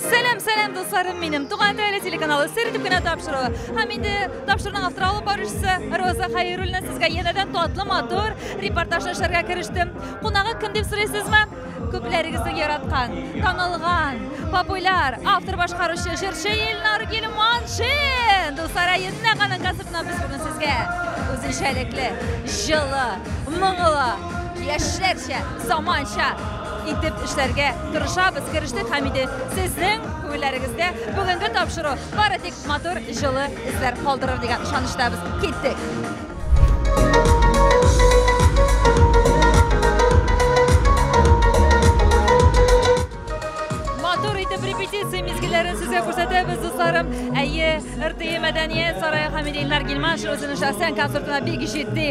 Сәлам, сәлам дусларым минем. Туган теле телеканалы сер итеп кенә тапшыруы. Һәм инде тапшыруның авторы алып баручысы Роза Хәйруллина сезгә янәдән татлы матур репортаж эшләргә керештем. Кунагы кем дип сорыйсызмы? Күпләрегезнең яраткан, танылган, популяр автор башкаручы җырчы Илнар Гилманшин. Дуслар, әйдә аның концертына без бүген сезгә үзенчәлекле, җылы, моңлы, яшьләрчә, заманча итеп эшләргә тырышабыз, керештек һәм инде сезнең күңелләрегездә бүгенге тапшыру бары тик матур, җылы эзләр калдырыр дигән ышаныштабыз. Киттек! Әйе, РТИ мәдәният сарае Хамидилнар Гилман шәхсән концертына бик җитди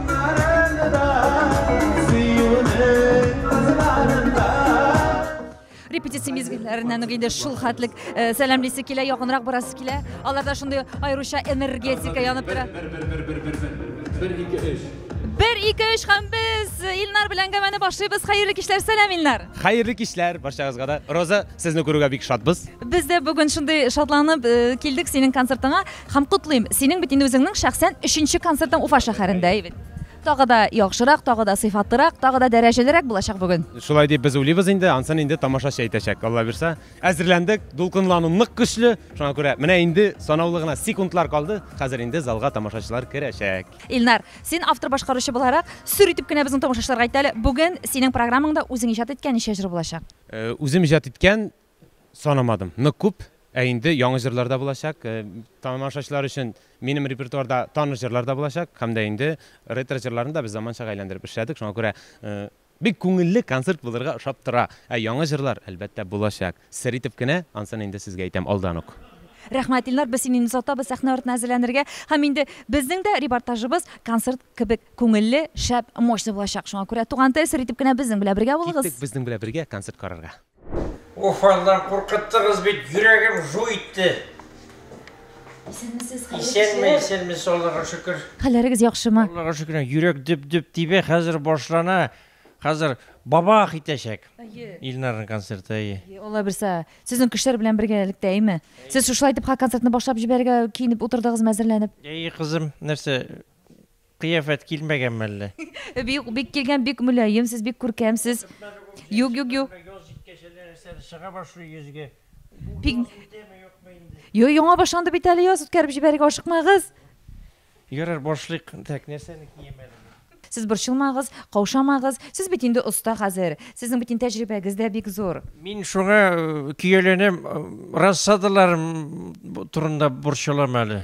Репетиция мизгелләреннән үк инде шул хәтлек э, сәламлисе килә, якынрак барасы килә. Аларда шундый аеруча энергетика янып тора. Бер, бер, бер, бер, бер, бер, бер, бер, бер, бер, бер ике өч һәм без илнар белән әңгәмәне башлыйбыз хәерле кичләр сәлам илнар хәерле кичләр барчагызга да роза сезне күрүгә бик шатбыз без дә бүген шундый шатланып э, килдек синең концертыңа Һәм котлыйм, синең бит инде үзеңнең шәхсән өченче концертың Уфа шәһәрендә, әйбәт. Тагы да яхшырак, тагы да сыйфатлырак, тагы да дәрәҗәлерәк булачак бүген. Шулай дип без уйлыйбыз инде, ансын инде тамашачы әйтәчәк, Алла бирса. Әзерләндек, дулкынлану нык көчле, шуңа күрә менә инде санаулы гына секундлар калды, хәзер инде залга тамашачылар керәчәк. Илнар, син автор-башкаручы буларак, сөр итеп кенә безнең тамашачыларга әйт әле, бүген синең программаңда үзең иҗат иткән ничә җыр булачак? Үзем иҗат иткән Санамадым, нык күп, ә инде яңа җырлар да булачак. Тамашачылар өчен минем репертуарда таныш җырлар да булачак һәм дә инде ретро җырларны да без заманчага әйләндереп эшләдек, шуңа күрә бик күңелле концерт булырга ошап тора. Ә яңа җырлар, әлбәттә, булачак. Сер итеп кенә, ансын инде сезгә әйтәм алдан ук. Рәхмәт, Илнар, без сине инде сатабыз сәхнә артына әзерләнергә. Һәм инде безнең дә репортажыбыз концерт кебек күңелле, шәп, мощный булачак. Шуңа күрә, туган тел, сер итеп кенә безнең белән бергә булыгыз. Киттек безнең белән бергә концерт карарга. Уфалдан куркыттыгыз бит, йөрәгем жу итте. Исәнмесез, хәерле Исәнме, кичә. исәнмес, Аллага шөкер. Хәлләрегез яхшымы? Аллага шөкер, йөрәк дөп-дөп тибә, хәзер башлана. Хәзер бабах итәчәк. Әйе. Илнарның концерты, әйе. Әйе, Алла бирсә, сезнең кешеләр белән бергәлектә, әйме? Сез шушылай итеп ха концертны башлап җибәрергә киенеп утырдыгызмы, әзерләнеп? Әйе, кызым, нәрсә, Кыяфәт килмәгән мәллә? Бик бик килгән, бик мөлаем сез, бик күркәмсез. Юк, юк, юк. Яз җиткәч әле нәрсәдер чыга башлый йөзгә. Бу Бик- яз үтәме, юкмы инде? Йо, яңа башланды бит әле яз, үткәреп җибәрергә ашыкмагыз. Ярар, башлыйк. Так, нәрсәне киям әле мин? Сез борчылмагыз, каушамагыз. Сез бит инде оста хәзер. Сезнең бит инде тәҗрибәгез дә бик зур. Мин шуңа көяләнәм, рассадаларым турында борчылам әле.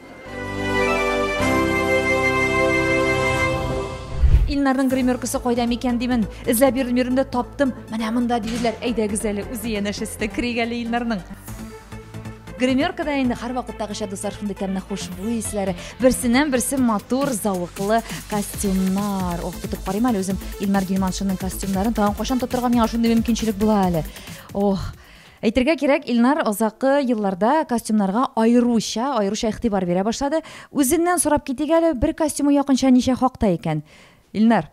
Илнарның гримеркасы кайда микән димен. Эзләп йөрдем йөрдем дә таптым. Менә монда диделәр. Әйдәгез әле үзе янәшәсендә керик әле Илнарның. Гримеркада инде һәр вакыттагыча дуслар шундый тәмле хушбуй исләре. Берсеннән берсе матур, зәвыклы костюмнар. Ох, тотып карыйм әле үзем Илмар Гилманшинның костюмнарын. Тагын кайчан тотырга миңа шундый мөмкинчелек була әле. Ох, Әйтергә кирәк, Илнар азаккы елларда костюмнарга аеруча, аеруча игътибар бирә башлады. Үзеннән сорап китик әле, бер костюмы якынча ничә хакта икән? Илнар,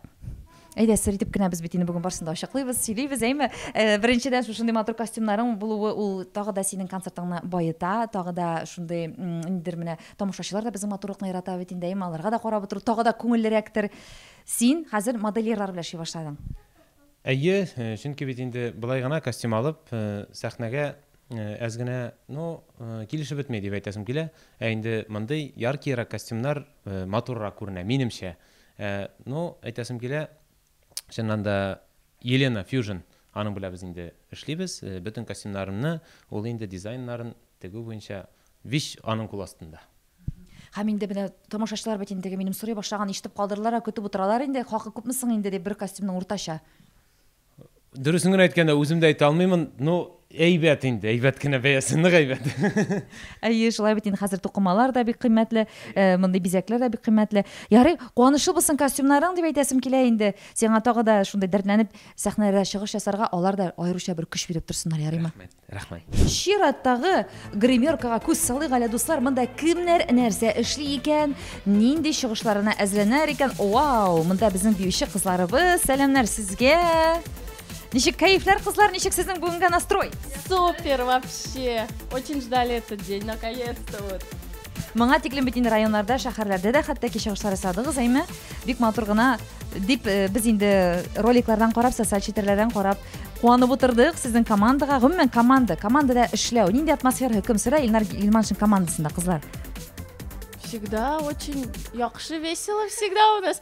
әйдә, сер итеп кенә без бит инде бүген барсын да ачыклыйбыз, сөйлибез, әйме? Э, беренчедән, шушындый матур костюмнарың булуы ул тагы да синең концертыңны баета, тагы да шундый м, ниндидер менә тамашачылар да безнең матурлыкны ярата бит инде, әйме? Аларга да карап утыру тагы да күңеллерәктер. Син хәзер модельерлар белән эшли башладың. Әйе, чөнки бит инде болай гына костюм алып, сәхнәгә әз генә, ну, килешеп бетми, дип әйтәсем килә. Ә инде мондый яркиерак костюмнар матуррак күренә, минемчә. Ә, ну, әйтәсем килә, чыннан да, Елена Фьюжн, аның белән без инде эшлибез. Бөтен костюмнарымны, ул инде дизайннарын тегү буенча вич аның кул астында. Һәм инде менә тамашачылар бит инде минем сорый башлаган ишетеп калдырдылар, ә көтеп утыралар инде, хакы күпме соң инде дип бер костюмның уртача. Дөресен генә әйткәндә, үзем дә әйтә алмыймын, ну, әйбәт инде, әйбәт кенә бәясе, нык әйбәт. Әйе, шулай бит инде хәзер тукымалар да бик кыйммәтле, э, мондый бизәкләр дә бик кыйммәтле. Ярый, куанышлы булсын костюмнарың дип әйтәсем килә инде. Сиңа тагы да шундый дәртләнеп сәхнәдә чыгыш ясарга, алар да аеруча бер көч биреп торсыннар, ярыймы? Рәхмәт. Рәхмәт. Чираттагы гримеркага күз салыйк әле, дуслар, монда кемнәр нәрсә эшли икән, нинди чыгышларына әзерләнәр икән. Вау, монда безнең биюче кызларыбыз. Сәламнәр сезгә. Ничек кәефләр, кызлар, ничек сезнең бүгенгә настрой? Супер вообще! Очень ждали этот день, наконец-то вот. Моңа тиклем бит инде районнарда, шәһәрләрдә дә хәтта кичә ушлар ясадыгыз, әйме? Бик матур гына дип э, без инде роликлардан карап, социаль челтәрләрдән карап куанып утырдык сезнең командага. Гомумән команда, командада эшләү, нинди атмосфера хөкем сөрә Илнар Илманшин командасында, кызлар? Всегда очень яхшы весело всегда у нас.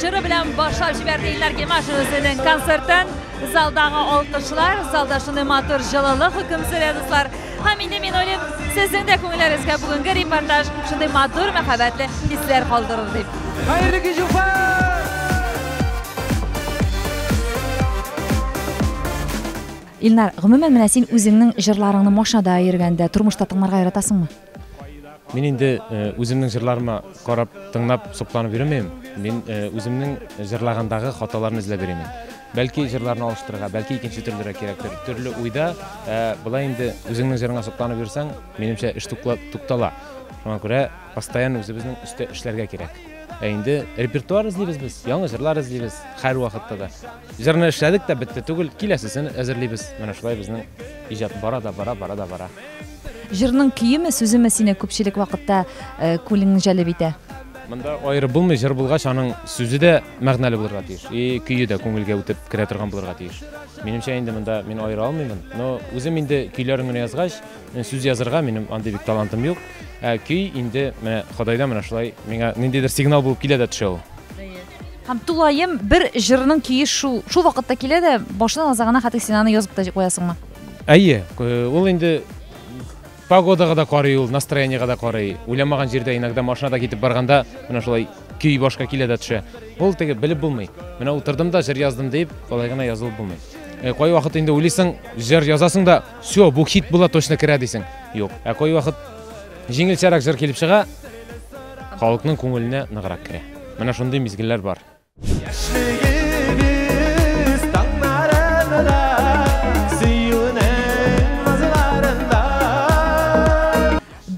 җыры белән башлап җибәрде Илнар Гимашев үзенең концертын. Залдагы алкышлар, залда шуны матур җылылык хөкем сөрә, дуслар. Һәм инде мин уйлыйм, сезнең дә күңелләрегезгә бүгенге репортаж шундый матур мәхәббәтле хисләр калдырыр дип. Хәерле кич, Уфа! Илнар, гомумән, менә син үзеңнең җырларыңны машинада йөргәндә, тормышта тыңларга яратасыңмы? Мин инде үземнең җырларыма карап, тыңлап, сокланып йөрмим. Мин үземнең җырлагандагы хаталарны эзләп йөрим. Бәлки җырларны алыштырырга, бәлки икенче төрлерәк кирәктер. Төрле уйда, ә болай инде үзеңнең җырыңа сокланып йөрсәң, минемчә, эш туктала. Шуңа күрә постоянно үзебезнең өстә эшләргә кирәк. Ә инде репертуар эзлибез без, яңа җырлар эзлибез һәрвакытта да. Җырны эшләдек тә бетте түгел, киләсесен әзерлибез. Менә шулай безнең иҗат бара да бара, бара да бара. Җырның көеме, сүземе сине күпчелек вакытта э, күңелеңне җәлеп итә? Монда аеры булмый, җыр булгач, аның сүзе дә мәгънәле булырга тиеш, и көе дә күңелгә үтеп керә торган булырга тиеш. Минемчә инде монда мин аера алмыймын, но үзем инде көйләрен генә язгач, мен сүз язырга минем андый бик талантым юк. Ә көй инде менә Ходайдан менә шулай миңа ниндидер сигнал булып килә дә төшә ул. Һәм тулаем бер җырның көе шул шул вакытта килә дә башына аза гына хәтер син аны язып та куясыңмы? Әйе, э, ул инде погодага да карый ул, настроениегә дә карый. Уйламаган җирдә иногда машинада китеп барганда менә шулай көй башка килә дә төшә. Ул теге белеп булмый. Менә утырдым да җыр яздым дип, алай гына язылып булмый. Э, кай вакыт инде уйлыйсың, җыр язасың да, все, бу хит була точно керә дисең. Юк. Ә кай вакыт җиңелчәрәк җыр килеп чыга, халыкның күңеленә ныграк керә. Менә шундый мизгелләр бар.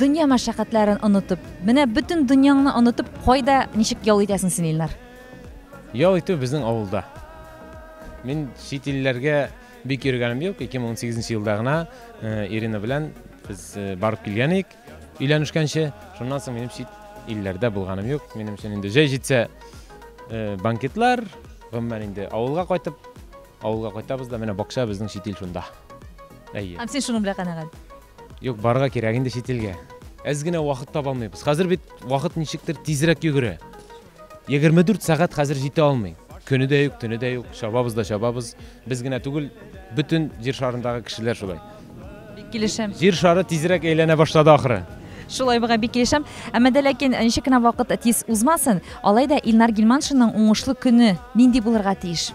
Дөнья мәшәкатьләрен онытып, менә бөтен дөньяңны онытып, кайда ничек ял итәсең син, Илнар? Ял итү безнең авылда. Мин чит илләргә бик йөргәнем юк. 2018 елда гына э, Ирина белән без э, барып килгән идек. Өйләнешкәнче, шуннан соң минем чит илләрдә булганым юк. Минем өчен инде җәй җитсә э, банкетлар, гомумән инде авылга кайтып, авылга кайтабыз да, менә бакча безнең чит ил шунда. Әйе. Һәм син шуның белән канәгать. Юк, барырга кирәк инде чит илгә. Әз генә вакыт таба алмыйбыз. Хәзер бит вакыт ничектер тизрәк йөгерә. 24 сәгать хәзер җитә алмый. Көне дә юк, төне дә юк, чабабыз да чабабыз. Без генә түгел, бөтен җир шарындагы кешеләр шулай. Бик килешәм. Җир шары тизрәк әйләнә башлады ахры. Шулай буга бик килешәм. Әмма дә ләкин ничек кенә вакыт тиз узмасын, алай да Илнар Гилманшинның уңышлы көне нинди булырга тиеш?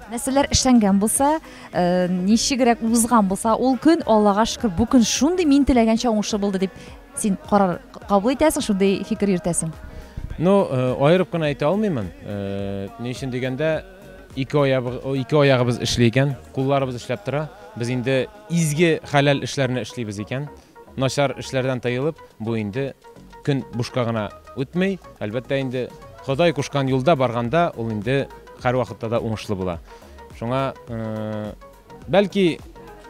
Нәрсәләр эшләнгән булса, э, ничегрәк узган булса, ул көн Аллага шөкер, бу көн шундый мин теләгәнчә уңышлы булды дип Син карар кабул итәсең, шундый фикер йөртәсең. Ну, э, аерып кына әйтә алмыймын. Э, ни өчен дигәндә, ике аябыз, ике аягыбыз эшли икән, кулларыбыз эшләп тора. Без инде изге хәләл эшләрне эшлибез икән. Начар эшләрдән тыелып, бу инде көн бушка гына үтмей. Әлбәттә инде Ходай кушкан юлда барганда, ул инде һәр вакытта да уңышлы була. Шуңа э, Бәлки,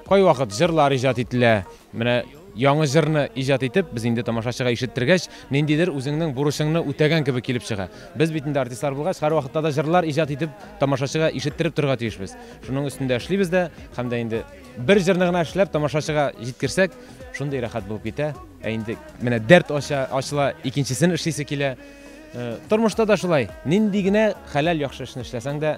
кайвакыт җырлар иҗат ителә. Менә яңа җырны иҗат итеп, без инде тамашачыга ишеттергәч, ниндидер үзеңнең бурычыңны үтәгән кебек килеп чыга. Без бит инде артистлар булгач, һәрвакытта да җырлар иҗат итеп, тамашачыга ишеттереп торырга тиешбез. Шуның өстендә эшлибез дә, һәм дә инде бер җырны гына эшләп, тамашачыга җиткерсәк, шундый рәхәт булып китә. Ә инде менә дәрт ача, ачыла, икенчесен эшлисе килә. Э, тормышта да шулай. Нинди генә хәләл яхшы эшне эшләсәң дә,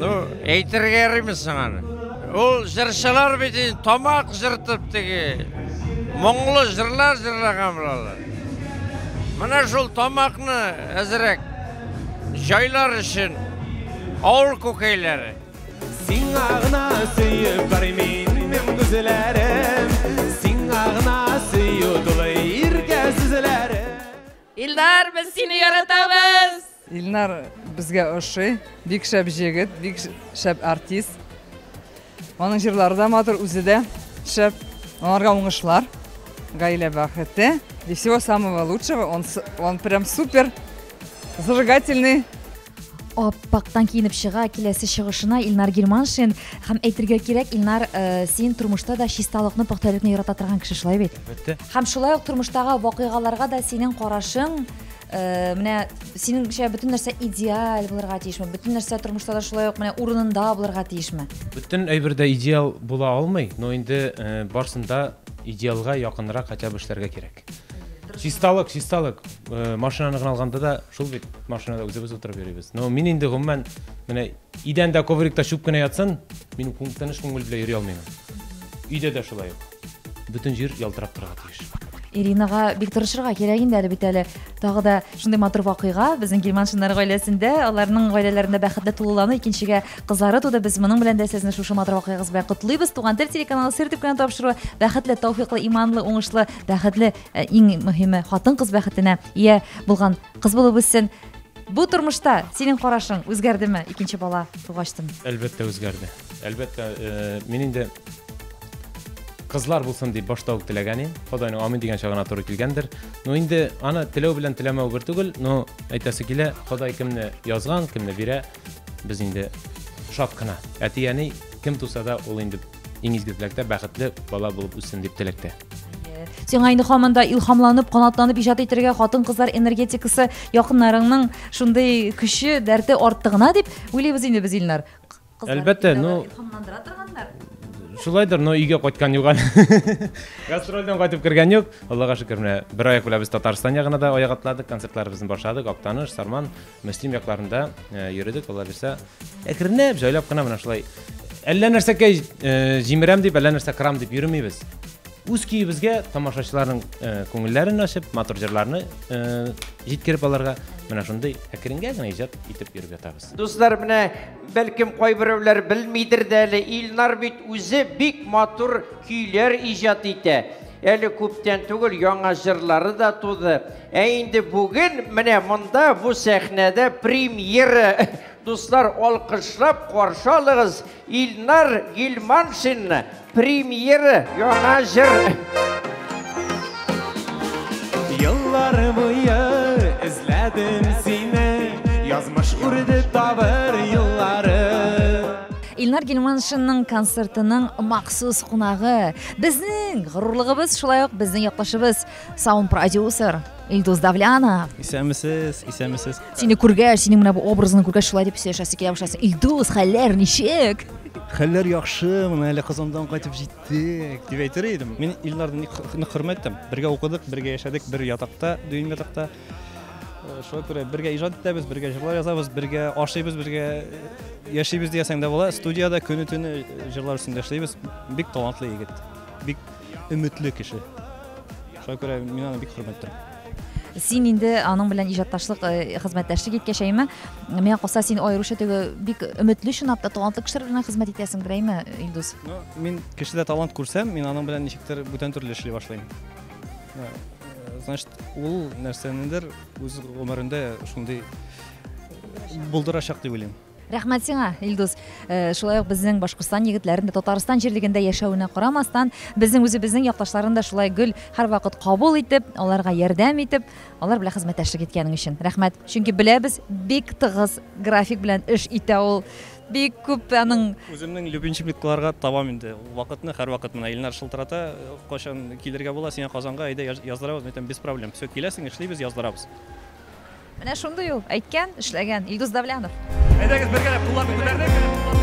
Ну, әйтергә ярыймы соң аны? Ул җырчылар бит инде тамак җыртып теге моңлы җырлар җырлаган булалар. Менә шул тамакны әзрәк җайлар өчен авыл күкәйләре. Сиңа гына сөеп бармин мин күзләрем, сиңа гына сөю тулы иркә сүзләрем. Илдар, без сине яратабыз! Илнар безгә ошый, бик шәп җегет, бик шәп артист. Аның җырлары да матур, үзе дә шәп. Аларга уңышлар, гаилә бәхете и всего самого лучшего. Он, он прям супер, зажигательный. Аппактан киенеп чыга киләсе чыгышына Илнар Германшин һәм әйтергә кирәк Илнар э, син тормышта да чисталыкны пөхтәлекне ярата торган кеше шулай бит. Әлбәттә. Һәм шулай ук тормыштагы вакыйгаларга да синең карашың Э, менә синеңчә бөтен нәрсә идеаль булырга тиешме бөтен нәрсә тормышта да шулай ук менә урынында булырга тиешме бөтен әйбер дә идеал була алмый но инде э, барсында идеалга якынрак хотя бы эшләргә кирәк чисталык чисталык э, машинаны гына алганда да шул бит машинада үзебез утырып йөрибез но мин инде гомумән менә Идәндә, коврикта чүп кенә ятсын, мин тыныч күңел белән йөри алмыйм. Өйдә дә шулай ук. Бөтен җир ялтырап торырга тиеш. Иринага бик тырышырга кирәк инде әле бит әле. Тагы да шундый матур вакыйга безнең Гилманшиннар гаиләсендә, аларның гаиләләрендә бәхетле тулылану, икенчегә кызлары туды. Без моның белән дә сезне шушы матур вакыйгагыз белән котлыйбыз. Туган тел телеканалы сер дип кенә тапшыру. Бәхетле, тауфиклы, иманлы, уңышлы, бәхетле, э, иң мөһиме, хатын-кыз бәхетенә ия булган кыз булып үссен. Бу тормышта синең карашың үзгәрдеме икенче бала тугачтын? Әлбәттә үзгәрде. Әлбәттә, э, мин инде кызлар булсын дип башта ук теләгән идем. Ходайның амин дигән чагына туры килгәндер. Но инде аны теләү белән теләмәү бер түгел, но әйтәсе килә, Ходай кемне язган, кемне бирә, без инде шат кына. Әти-әни кем туса да, ул инде иң изгезлектә бәхетле бала булып үссен дип теләктә. Сиңа инде хаман да илхамланып, канатланып иҗат итәргә хатын-кызлар энергетикасы, якыннарыңның шундый көче, дәрте артты гына дип уйлыйбыз инде без Илнар. Әлбәттә, ну илхамландыра торганнар. Шулайдыр, но өйгә кайткан юк әле. Гастрольдән кайтып кергән юк. Аллага шөкер, менә бер аяк белән без Татарстан ягына да аяк атладык, концертларыбызны башладык, Актаныш, Сарман, Мөслим якларында э, йөрдек, алла бирсә, әкренләп, җайлап кына менә шулай әллә нәрсәкә э, җимерәм дип, әллә нәрсә кырам дип йөрмибез. Үз көебезгә тамашачыларның э, күңелләрен ачып, матур җырларны җиткереп аларга менә шундый әкренгә генә иҗат итеп йөреп ятабыз. Дуслар, менә бәлкем кайберәүләр белмидер дә әле, Илнар бит үзе бик матур көйләр иҗат итә. Әле күптән түгел яңа җырлары да туды. Ә инде бүген менә монда бу сәхнәдә премьера. Дуслар, алкышлап каршы алыгыз Илнар Гилманшинны. Премьера яңа җыр. Еллар буе эзләдем сине, язмыш үрде табыр юллары. Илнар Гилманшинның концертының махсус кунагы, Безнең горурлыгыбыз шулай ук безнең яклашыбыз саунд продюсер Илдус Давлянов. Исәнмесез, исәнмесез. Сине күргәч, синең менә бу образыңны күргәч шулай дип сөйләшәсе килә башласы. Илдус, хәлләр ничек? Хәлләр яхшы, менә әле Казандан кайтып җиттек дип әйтер идем. Мин Илнарны нык хөрмәт итәм. Бергә укыдык, бергә яшәдек, бер ятакта, дөйм ятакта. Э, шуңа күрә бергә иҗат итәбез, бергә җырлар язабыз, бергә ашыйбыз, бергә э, яшибез диясәң дә була. Студияда көне төне э, җырлар өстендә эшлибез. Бик талантлы егет. Бик өметле кеше. Шуңа күрә мин аны бик хөрмәт итәм. Син инде аның белән иҗатташлык хезмәттәшлек иткәч, әйме, миңа калса син аеруча теге бик өметле чынлап та талантлы кешеләр белән хезмәт итәсең, әйме, Илдус? Ну, мин кешедә талант күрсәм, мин аның белән ничектер бүтән төрле эшли башлыйм. Ә, Значит, ул нәрсәнедер үз гомерендә шундый булдырачак дип уйлыйм. Рәхмәт сиңа, Илдус. Э, Шулай ук безнең Башкортстан егетләрен дә Татарстан җирлегендә яшәвенә карамастан, безнең үзебезнең якташларын да шулай гөл һәрвакыт кабул итеп, аларга ярдәм итеп, алар белән хезмәттәшлек иткәнең өчен. Рәхмәт. Чөнки беләбез, бик тыгыз график белән эш итә ул Бик күп аның. Үземнең любимчикларга табам инде ул вакытны, һәрвакыт менә Илнар шылтырата, кайчан килергә була сиңа Казанга, әйдә яздырабыз, мин әйтәм, без проблем, все, киләсең, эшлибез, яздырабыз. Менә шундый ул, әйткән, эшләгән, Илдус Давлянов. Әйдәгез бергәләп кулларны күтәрдек.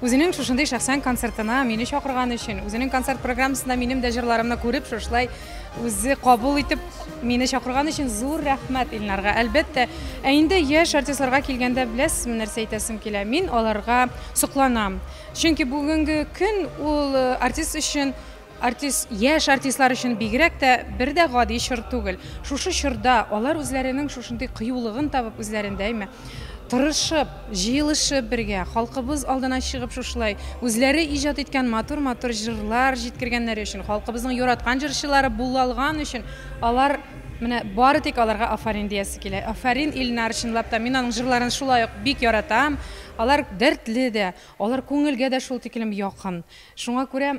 Үзенең шушындый шәхсән концертына мине чакырганы өчен, үзенең концерт программасында минем дә җырларымны күреп, шушылай үзе кабул итеп мине чакырганы өчен зур рәхмәт Илнарга, әлбәттә. Ә инде яшь артистларга килгәндә, беләсезме, нәрсә әйтәсем килә? Мин аларга сокланам. Чөнки бүгенге көн ул э, артист өчен Артист, яшь артистлар өчен бигрәк тә бер дә гади чор түгел. Шушы чорда алар үзләренең шушындый кыюлыгын табып, үзләрендә әйме, тырышып, җыелышып бергә, халкыбыз алдына чыгып шушылай үзләре иҗат иткән матур-матур җырлар җиткергәннәре өчен, халкыбызның яраткан җырчылары булалган өчен алар менә бары тик аларга афарин диясе килә. Афарин Ильнар, чынлап та мин аның җырларын шулай ук бик яратам. Алар дәртле дә, алар күңелгә дә шул тикелем якын. Шуңа күрә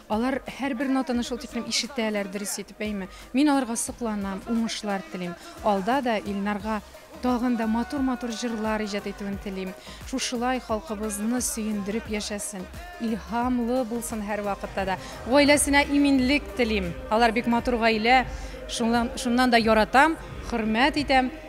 Алар һәрбер нотаны шул тиклем ишетәләр, дөрес итеп әйме. Мин аларга сокланам, уңышлар телим. Алда да Илнарга тагын да матур-матур җырлар иҗат итүен телим. Шушылай халкыбызны сөендереп яшәсен, илһамлы булсын һәрвакытта да. Гаиләсенә иминлек телим. Алар бик матур гаилә, шуннан да яратам, хөрмәт итәм.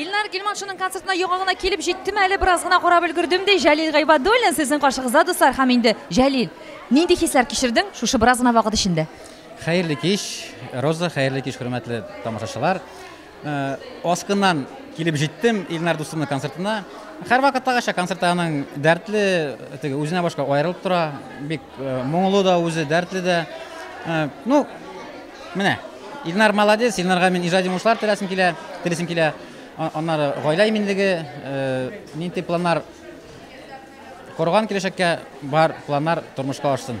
Илнар Гилманшының концертына яңа гына килеп җиттем әле, бераз гына карап өлгердем, ди Җәлил Гайбадуллин сезнең каршыгызда, дуслар, һәм инде Җәлил, нинди хисләр кичердең шушы бераз гына вакыт эчендә? Хәерле кич, Роза, хәерле кич, хөрмәтле тамашачылар. Э, Аскыннан килеп җиттем Илнар дустымның концертына. Һәрвакыттагыча концерт аның дәртле, теге үзенә башка аерылып тора. Бик э, моңлы да үзе, дәртле дә. Э, ну, Менә, Илнар молодец, Илнарга мин иҗади уңышлар теләсем килә, телисем килә. Аннары гаилә иминлеге, э, нинди планнар корган киләчәккә бар планнар тормышка ашсын.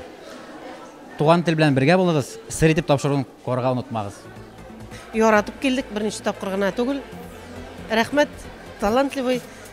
Туган тел белән бергә булыгыз, сер итеп тапшыруын корга онытмагыз. Яратып килдек, берничә тапкыр гына түгел. Рәхмәт, талантливый.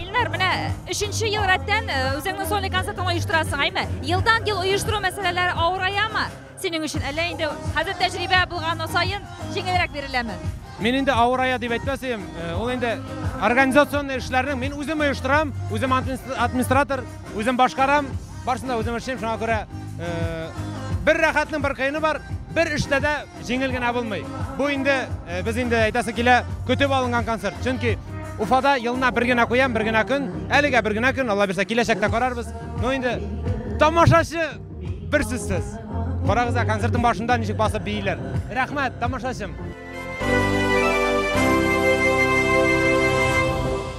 Илнар, менә өченче ел рәттән э, үзеңнең сольный концертыңны оештырасың, әйме? Елдан ел оештыру мәсьәләләре авыраямы? Синең өчен әллә инде хәзер тәҗрибә булган саен җиңелрәк биреләме? Мин инде авырая дип әйтмәс идем. Э, ул инде организацион эшләрне мин үзем оештырам, үзем администратор, үзем башкарам, барсын да үзем эшлим, шуңа күрә э, бер рәхәтнең бер кыены бар, бер эштә дә Җиңел генә булмый. Бу инде э, без инде әйтәсе килә, көтеп алынган концерт. Чөнки Уфада елына бер генә куям, бер генә көн. Әлегә бер генә көн, Алла бирсә, киләчәктә карарбыз. Ну инде тамашачы бер сүзсез. Карагыз, концертның башында ничек басып бииләр. Рәхмәт, тамашачым.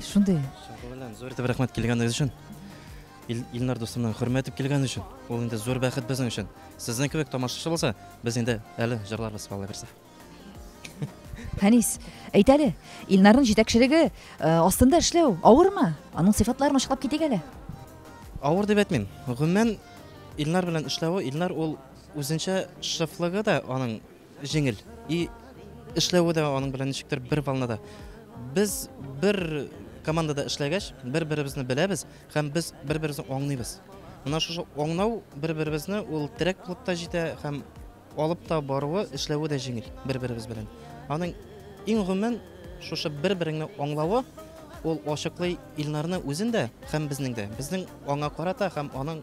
Шундый. Шуңгы белән зур итеп рәхмәт килгәнегез өчен. Ил, Илнар дустымның хөрмәт итеп килгән өчен. Ул инде зур бәхет безнең өчен. Сезнең кебек тамашачы булса, без инде әле җырларбыз калай берсе. Хәнис, әйт әле, Илнарның җитәкчелеге э, астында эшләү авырмы? Аның сыйфатларын ачыклап китик әле. Авыр дип әйтмим. Гомумән Илнар белән эшләве, Илнар ул үзенчә шефлыгы да аның Җиңел. И эшләве дә аның белән ничектер бер волнада. Без бер командада эшләгәч, бер-беребезне беләбез һәм без бер-беребезне аңлыйбыз. Менә шушы аңлау бер-беребезне ул терәк булып та җитә һәм алып та баруы, эшләве дә җиңел бер-беребез белән. Аның иң гомумән шушы бер-береңне аңлавы ул ачыклый Илнарны үзен дә һәм безнең дә. Безнең аңа карата һәм аның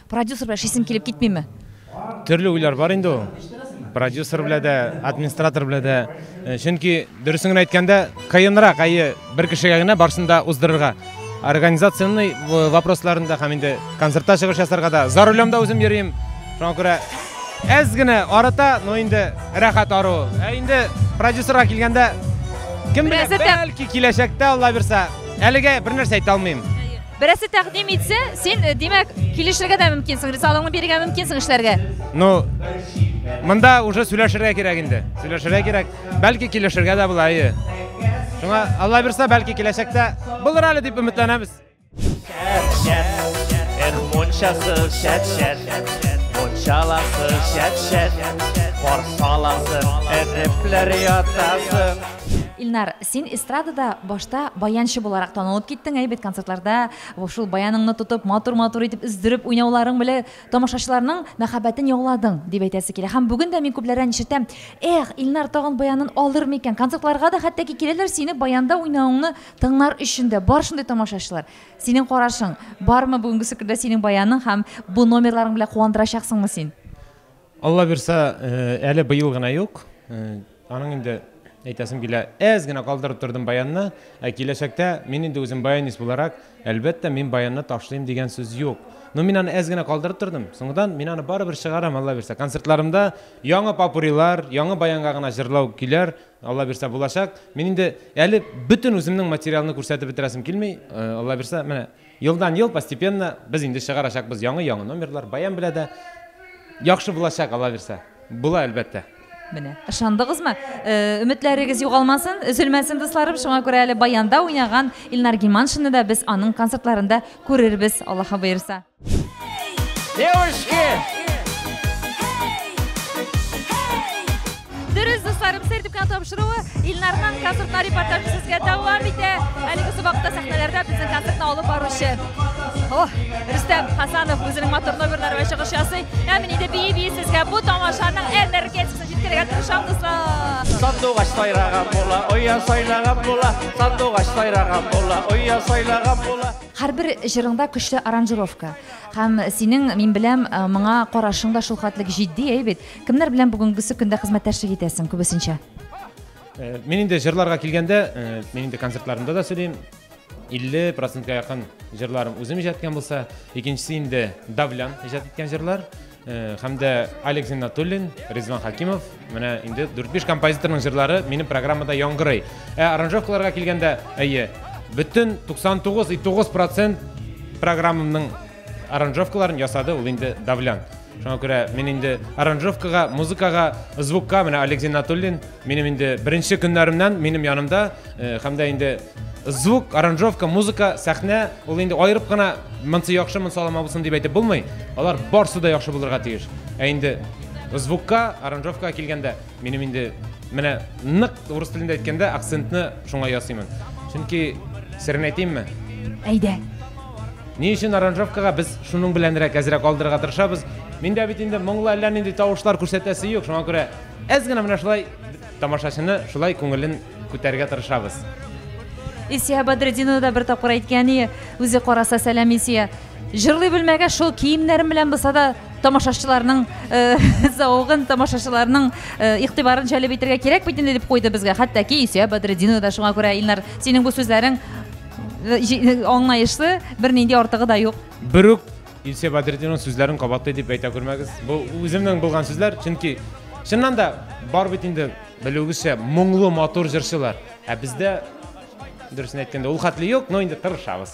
Продюсер белән эшлисең килеп китмиме? Төрле уйлар бар инде ул. Продюсер белән дә, администратор белән дә. Э, чөнки дөресен генә әйткәндә, кыенрак әйе бер кешегә генә барсын да уздырырга. Организационный э, вопросларында һәм инде концертта чыгыш ясарга да за рулем да үзем йөрим. Шуңа күрә әз генә арыта, но инде рәхәт ару. Ә инде продюсерга килгәндә кем белә, бәлки киләчәктә Алла бирса. Әлегә бер нәрсә әйтә алмыйм. Берәсе тәкъдим итсә, син, э, димәк, килешергә дә мөмкинсең, ризалыгыңны бирергә мөмкинсең эшләргә. Ну, монда уже сөйләшергә кирәк инде. Сөйләшергә кирәк. Бәлки килешергә дә була, әйе. Шуңа Алла бирсә, бәлки киләчәктә булыр әле дип өметләнәбез. Эх, мончасы шәт шәт, мончаласы шәт шәт, корсаласы, эрепләр ятасы. Илнар, Син эстрадада башта баянчы буларак танылып киттең, әйбәт концертларда шул баяныңны тотып, матур-матур итеп өздереп уйнауларың белән тамашачыларның мәхәббәтен яуладың, дип әйтәсе килә. Һәм бүген дә мин күпләрдән ишетәм, эх, Илнар тагын баянын алыр микән? Концертларга да хәтта ки киләләр, сине баянда уйнавыңны тыңлар өчен дә. Бар шундый тамашачылар. Синең карашың бармы бүгенгесе көндә синең баяның һәм бу номерларың белән куандырачаксыңмы син? Алла бирса, әле быел гына юк. Аның инде әйтәсем килә, әз генә калдырып тордым баянны, ә киләчәктә мин инде үзем баянист буларак, әлбәттә, мин баянны ташлыйм дигән сүз юк. Но мин аны әз генә калдырып тордым. Соңдан мин аны барыбер чыгарам, Алла бирсә. Концертларымда яңа попурилар, яңа баянга гына җырлау көйләр, Алла бирсә, булачак. Мин инде әле бөтен үземнең материалны күрсәтеп бетерәсем килми, Алла бирсә, менә Елдан-ел постепенно без инде чыгарачакбыз яңы-яңы номерлар, баян белә дә яхшы булачак, Алла бирсә. Була, әлбәттә. Менә, ышандыгызмы? Өметләрегез югалмасын, өзелмәсен, дусларым. Шуңа күрә әле баянда уйнаган Илнар Гиманшинны да без аның концертларында күрербез, Аллаһы боерса. Девушки! Дөрес, дусларым, сәр дип кенә тапшыруы Илнарның концертына репортажы сезгә дәвам итә. Әлеге сабакта сәхнәләрдә безнең концертны алып баручы. О, Рөстәм Хасанов үзенең матур номерлары белән чыгыш ясый. Ә мин инде бии-бии сезгә бу тамашаның энергетикасын җиткерергә тырышам, дуслар. Сандугач сайраган була, оя сайлаган була, сандугач сайраган була, оя сайлаган була. Һәрбер җырыңда көчле аранжировка. Һәм синең, мин беләм, моңа карашың да шулхәтлек җитди, әй бит? Кемнәр белән бүгенгесе көндә хезмәттәшлек итәсең күбесенчә? Э, мин инде җырларга килгәндә, э, мин инде концертларымда да сөйлим. 50 процентка якын җырларым үзем иҗат иткән булса, икенчесе инде Давлян иҗат иткән җырлар э, һәм дә Алекс Натуллин, Ризван Хакимов, менә инде 4-5 композиторның җырлары минем программада яңгырый. Ә аранжировкаларга килгәндә, әйе, бөтен 99,9% программамның аранжовкаларын ясады ул инде давлянт шуңа күрә мин инде аранжовкага музыкага звукка менә олег зиннатуллин минем инде беренче көннәремнән минем янымда э, һәм дә инде звук аранжовка музыка сәхнә ул инде аерып кына монсы яхшы монсы алама булсын дип әйтеп булмый алар барсы да яхшы булырга тиеш ә инде звукка аранжовкага килгәндә Минем инде менә нык урыс телендә әйткәндә акцентны шуңа ясыймын. Чөнки серен әйтимме? Әйдә. Ни өчен аранжировкага без шуның беләнрәк әзрәк алдырырга тырышабыз. Миндә бит инде моңлы әллә нинди тавышлар күрсәтәсе юк. Шуңа күрә әз генә менә шулай тамашачыны шулай күңелен күтәрергә тырышабыз. Исия Бадретдинова да бер тапкыр әйткән ие, үзе караса сәлам Исия. Җырлый белмәгәч, шул киемнәрем белән булса да тамашачыларның э, зәвыгын, тамашачыларның э, игътибарын җәлеп итәргә кирәк бит инде дип куйды безгә. Хәтта ки Исә Бадретдинова да шуңа күрә Илнар, синең бу сүзләрең э, җи- э, аңлаешлы, бернинди артыгы да юк. Бер үк Илсөя Бәдретдинованың сүзләрен кабатлый дип әйтә күрмәгез. Бу үземнең булган сүзләр, чөнки чыннан да бар бит инде белүегезчә моңлы матур җырчылар. Ә бездә дөресен әйткәндә ул хәтле юк, но инде тырышабыз.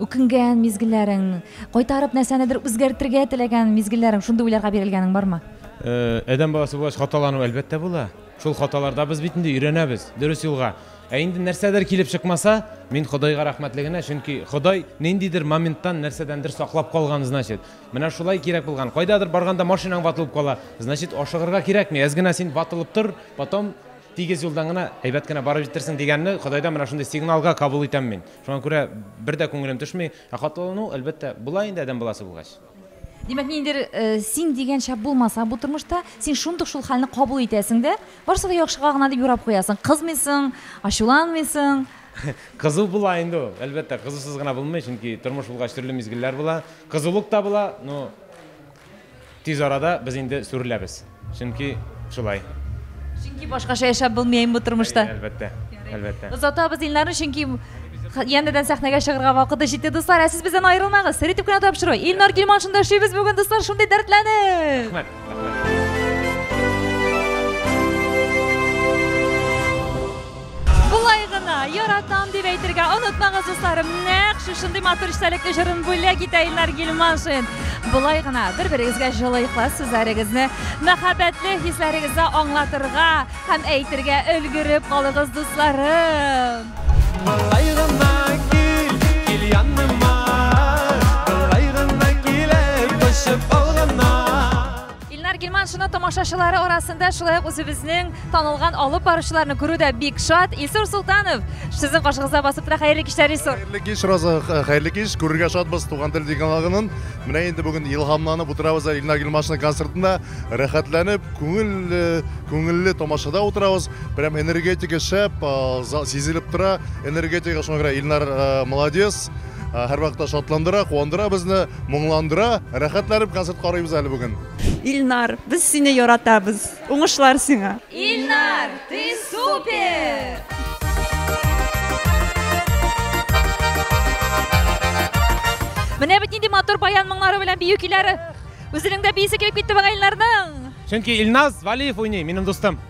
үкенгән мизгелләрең, кайтарып нәрсәнедер үзгәртергә теләгән мизгелләрең, шундый уйларга бирелгәнең бармы? Э, адәм баласы булгач, хаталану әлбәттә була. Шул хаталарда без бит инде өйрәнәбез, дөрес юлга. Ә инде нәрсәдер килеп чыкмаса, мин Ходайга рәхмәтле генә, чөнки Ходай ниндидер моменттан нәрсәдәндер саклап калган, значит. Менә шулай кирәк булган. Кайдадыр барганда машинаң ватылып кала, значит, ашыгырга кирәкми. Әз генә син ватылып тор, потом тигез юлдан гына әйбәт кенә барып җитерсең дигәнне Ходайдан менә шундый сигналга кабул итәм мин. Шуңа күрә бер дә күңелем төшми. Ә хатлылану, әлбәттә, була инде адәм баласы булгач. Димәк, ниндидер син дигән шәп булмаса бу тормышта, син шундук шул хәлне кабул итәсең дә, барысы да яхшыга гына дип юрап куясың. Кызмыйсың, ачуланмыйсың. Кызу була инде ул, әлбәттә, кызусыз гына булмый, чөнки тормыш булгач төрле мизгелләр була. Кызулык та була, но Тиз арада без инде сүреләбез. Чөнки шулай. Чөнки башкача яшәп булмый бу тормышта. Әлбәттә. Әлбәттә. Озатабыз Илнарны, чөнки янәдән сәхнәгә чыгарга вакыты җитте, дуслар. Ә сез бездән аерылмагыз. Сер итеп кенә тапшыру. Илнар Гилман шунда эшлибез бүген, дуслар, шундый дәртләнеп. Рәхмәт. Рәхмәт. Болай гына, яратам дип әйтергә онытмагыз, дусларым. Нәк шушындый матур эчтәлекле җырын бүләк итә Илнар Гилманшин. Болай гына, бер-берегезгә җылы ихлас сүзләрегезне, мәхәббәтле хисләрегезне аңлатырга һәм әйтергә өлгереп калыгыз, дусларым. Болай гына кил, кил яныма, болай гына килеп, кочып ал гына. Илнар Гилман шуны тамашачылары арасында шулай ук үзебезнең танылган алып баручыларны күрү дә бик шат. Илсур Султанов, сезнең каршыгызда басып тора. Хәерле кичләр, Илсур. Хәерле кич, Роза, хәерле кич. Күрергә шатбыз Туган тел дигалагынын. Менә инде бүген илһамланып утырабыз Илнар Гилмашның концертында. Рәхәтләнеп, күңел, күңелле тамашада утырабыз. Прям энергетика шәп, сизелеп тора энергетика. Шуңа күрә Илнар молодец. Һәрвакытта шатландыра, куандыра безне, моңландыра. Рәхәтләнеп концерт карыйбыз әле бүген. Ильнар, без сине яратабыз. Уңышлар сиңа. Ильнар, ты супер! Менә бит нинди матур баян моңнары белән бию көйләре. Үзенең дә биисе килеп китте бага Ильнарның. Чөнки Илназ Валиев уйный, минем дустым.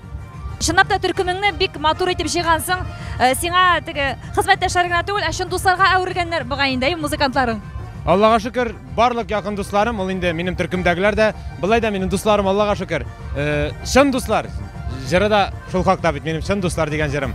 Чынлап та төркемеңне бик матур итеп җыйгансың. Э, сиңа теге хезмәттәшләр генә түгел, ә чын дусларга әверелгәннәр бугай инде, әйе, музыкантларың. Аллага шөкер, барлык якын дусларым, ул инде минем төркемдәгеләр дә, былай да минем дусларым, Аллага шөкер. Э, чын дуслар. Җыры да шул хакта бит минем чын дуслар дигән җырым.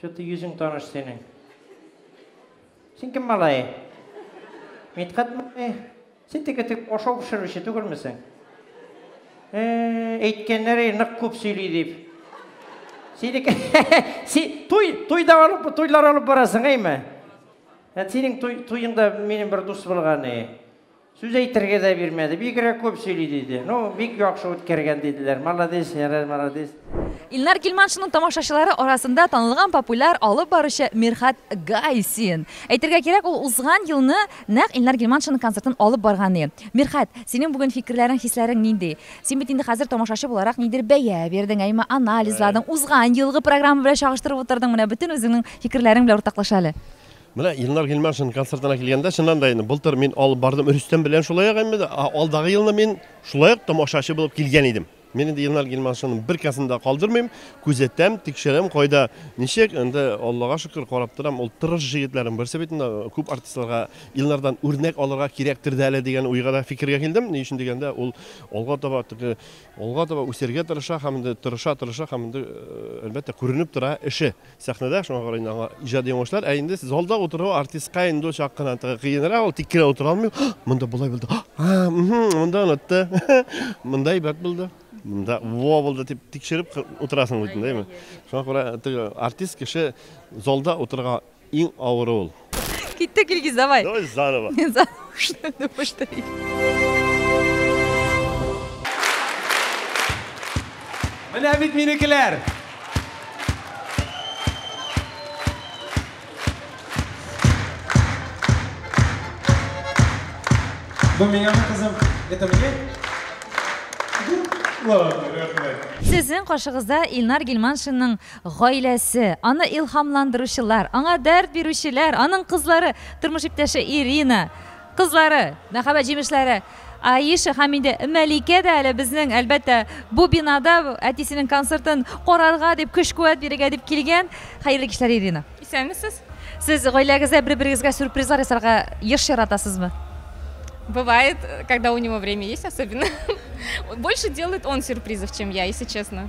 Чё-то йөзең таныш синең. Син кем малае? Мидхәт малае? Син теге тек ашау пешерүче түгелмесең? Әйткәннәр, нык күп сөйли дип. Синеке туй, туйда алып, туйлар алып барасың, әйме? Ә синең туй, туйыңда минем бер дус булган, әй. Сүз әйтергә дә бирмәде, бигрәк күп сөйли диде. Ну, бик яхшы үткәргән диделәр. Молодец, ярар, молодец. Илнар Гилманшинның тамашачылары арасында танылган популяр алып баручы Мирхат Гайсин. Әйтергә кирәк, ул узган елны нәкъ Илнар Гилманшинның концертын алып барган и. Мирхат, синең бүген фикерләрең, хисләрең нинди? Син бит инде хәзер тамашачы буларак нидер бәя бирдең, әйме, анализладың, узган елгы программа белән чагыштырып утырдың, менә бөтен үзеңнең фикерләрең белән уртаклаша әле. Менә Илнар Гыйльманшин концертына килгәндә, чыннан да инде былтыр мин алып бардым Рөстәм белән шулай ук инде, а алдагы елны мин шулай ук тамашачы булып килгән идем. Мин инде Илнар Гыйльманшинның бер концертын да калдырмыйм, күзәтәм, тикшерәм, кайда, ничек, инде Аллага шөкер, карап торам, ул тырыш җегетләрнең берсе бит инде, күп артистларга Илнардан үрнәк алырга кирәктер дә әле дигән уйга да, фикергә килдем, ни өчен дигәндә, ул алга таба теге, алга таба үсәргә тырыша һәм инде тырыша-тырыша һәм инде, әлбәттә, күренеп тора эше. Сәхнәдә, шуңа карый инде аңа иҗади уңышлар. Ә инде залда утыру артистка инде ул чак кына кыенрак, ул тик кенә утыра алмый. Монда болай булды. А, монда онытты. Монда әйбәт булды. Монда во булды дип тикшереп утырасың бит, дәйме? Шуңа күрә артист кеше залда утырырга иң авыры ул. Киттек, Илгиз, давай. Давай заново. Заново повтори. Менә бит минекеләр. Бу миңа кызым, это мне? Ладно, рәхмәт. Сезнең каршыгызда Илнар Гилманшинның Гаиләсе, аны илһамландыручылар, аңа дәрт бирүчеләр, аның кызлары, тормыш иптәше Ирина, кызлары, мәхәббәт җимешләре Аиша һәм инде Мәликә дә әле безнең, әлбәттә, бу бинада әтисенең концертын карарга дип, көч-куәт бирергә дип килгән. Хәерле кичләр, Ирина. Исәнмесез. Сез гаиләгездә бер-берегезгә сюрпризлар ясарга еш яратасызмы? Бывает, когда у него время есть особенно. Больше делает он сюрпризов, чем я, если честно.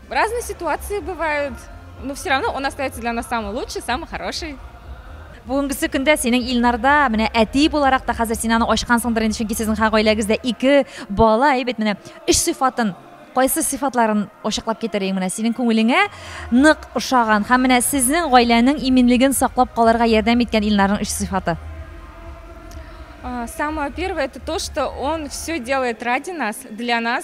Разные ситуации бывают, но все равно он остается для нас самый лучший, самый хороший. бүгенгесе көндә синең Илнарда менә әти буларак та хәзер син аны ачкансыңдыр инде, чөнки сезнең гаиләгездә ике бала, әйбәт менә өч сыйфатын кайсы сыйфатларын ачыклап китер иң менә синең күңелеңә нык ошаган һәм менә сезнең гаиләнең иминлеген саклап калырга ярдәм иткән Илнарның өч сыйфаты. Самое первое это то, что он все делает ради нас, для нас.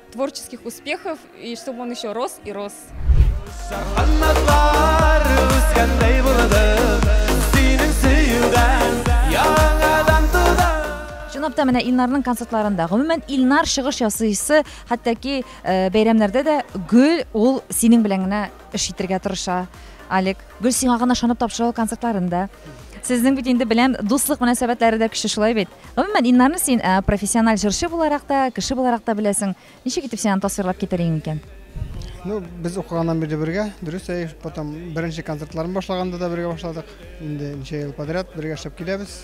Творческих успехов и чтоб он еще рос и рос. Чынлап та менә Илнарның концертларында, гомумән Илнар чыгыш ясыйсы, хәтта ки э, бәйрәмнәрдә дә гел ул синең белән генә эш итергә тырыша. Алик, Гөл сиңа гына ышанып тапшыра ул концертларын да. Сезнең бит инде беләм, дуслык мөнәсәбәтләре дә көчле шулай бит. Гомумән, Иннарны син э, профессиональ җырчы буларак та, кеше буларак та беләсең. Ничек итеп син аны тасвирлап китәр идең икән? Ну, без укыганнан бирле бергә, дөрес әй, потом беренче концертларын башлаганда да бергә башладык. Инде ничә ел подряд бергә эшләп киләбез.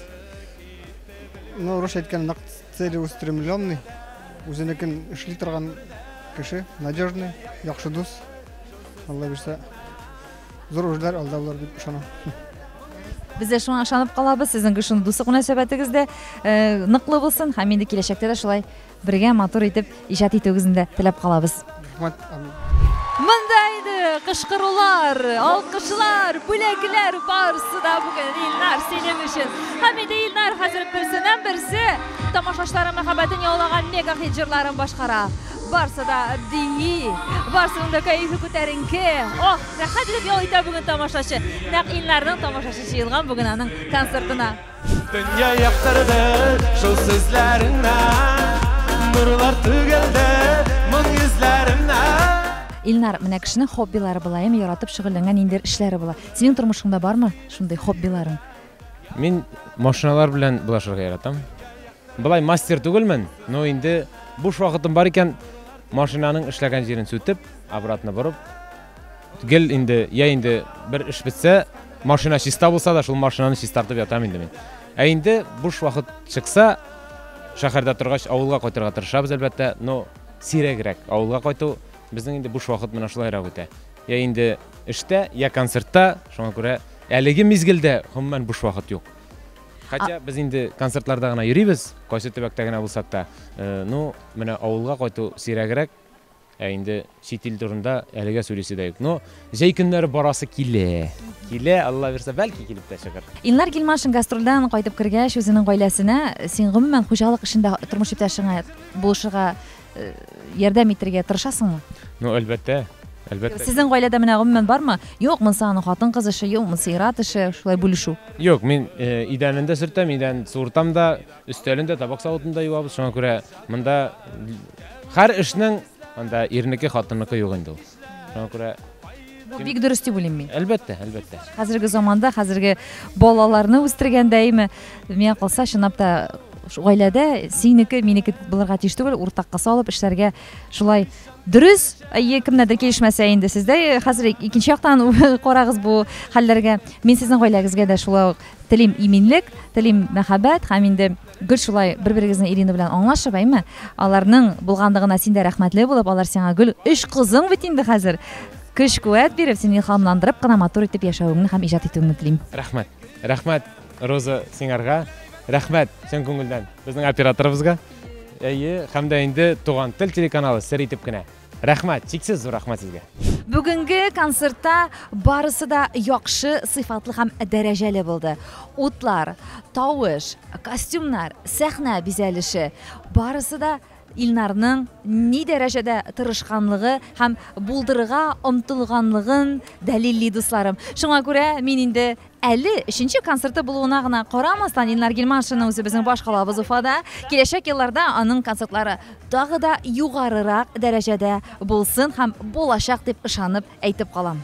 Ну, рус әйткән нак целеустремленный, үзенекен эшли торган кеше, надежный, яхшы дус. Алла бирсә, зур урлар алда булыр дип ышанам. Без дә шуңа ышанып калабыз. Сезнең шундый дуслык мөнәсәбәтегез дә э, ныклы булсын һәм инде киләчәктә дә шулай бергә матур итеп иҗат итүегезне дә теләп калабыз. Рәхмәт. Монда иде кышкырулар, алкышлар, бүләкләр барысы да бүген Илнар синең өчен. Һәм инде Илнар хәзер берсеннән берсе тамашачыларның мәхәббәтен яулаган мега хит җырларын башкара. Барсы да бии, барсының да кәефе күтәренке. Ох, рәхәт итеп ял итә бүген тамашачы. Нәкъ Илнарның тамашачы җыелган бүген аның концертына. Дөнья яктырды шул сүзләреңә, нурлар түгелде моң йөзләреңә. Илнар, менә кешенең хоббилары була, яратып шөгыльләнгән ниндидер эшләре була. Синең тормышыңда бармы шундый хоббиларың? Мин машиналар белән булашырга яратам. Былай мастер түгелмен, но инде буш вакытым бар икән, машинаның эшләгән җирен сүтеп, обратно борып, гел инде, я инде бер эш бетсә, машина чиста булса да, шул машинаны чистартып ятам инде мин. Ә инде буш вакыт чыкса, шәһәрдә торгач, авылга кайтырга тырышабыз, әлбәттә, но сирәгрәк авылга кайту, безнең инде буш вакыт менә шулайрак үтә. Я инде эштә, я концертта, шуңа күрә әлеге мизгелдә гомумән буш вакыт юк. Хотя без инде концертларда гына йөрибез, кайсы төбәктә генә булсак та, э, ну, менә авылга кайту сирәгрәк, ә инде чит ил турында әлегә сөйлисе дә юк. Но җәй көннәре барасы килә. Килә, Алла бирсә, бәлки килеп тә чыгыр. Илнар Гилмашин гастрольдән кайтып кергәч, үзенең гаиләсенә, син гомумән хуҗалык эшендә тормыш иптәшеңә булышырга э, ярдәм итергә тырышасыңмы? Ну, әлбәттә. Әлбәттә. Сезнең гаиләдә менә гомумән бармы? Юк, монсы аның хатын-кыз эше, юк, монсы ир-ат эше, шулай бүлешү. Юк, мин э, идәнендә сөртәм, идән суыртам да, өстәлендә табак савытында юабыз. Шуңа күрә монда һәр эшнең анда ирнеке, хатынныкы юк инде ул. Шуңа күрә Бу бик дөрес дип уйлыйм мин. Әлбәттә, әлбәттә. Хәзерге заманда, хәзерге балаларны үстергәндә, әйме, миңа калса, чынлап та гаиләдә синеке, минеке булырга тиеш түгел, уртакка салып эшләргә шулай дөрес. Әйе, кемнәрдер килешмәсә инде сездә э, хәзер икенче яктан карагыз бу хәлләргә. Мин сезнең гаиләгезгә дә шулай ук телим иминлек, телим мәхәббәт һәм инде Гел шулай бер-берегезнең Ирина белән аңлашып, әйме? Аларның булганлыгына син дә рәхмәтле булып, алар сиңа гел өч кызың бит инде хәзер. Көч-куәт биреп, син илһамландырып кына матур итеп яшәвеңне һәм иҗат итүеңне телим. Рәхмәт. Рәхмәт, Роза, сиңарга. Рәхмәт чын күңелдән безнең операторыбызга. Әйе, һәм дә инде Туган тел телеканалы сер итеп кенә Рәхмәт, чиксез зур рәхмәт сезгә. Бүгенге концертта барысы да яхшы, сыйфатлы һәм дәрәҗәле булды. Утлар, тавыш, костюмнар, сәхнә бизәлеше барысы да Илнарның ни дәрәҗәдә тырышканлыгы һәм булдырырга омтылганлыгын дәлилли, дусларым. Шуңа күрә мин инде Әле өченче концерты булуына гына карамастан, Илнар Гилманшинның үзе безнең башкалабыз Уфада. Киләчәк елларда аның концертлары тагы да югарырак дәрәҗәдә булсын һәм булачак дип ышанып әйтеп калам.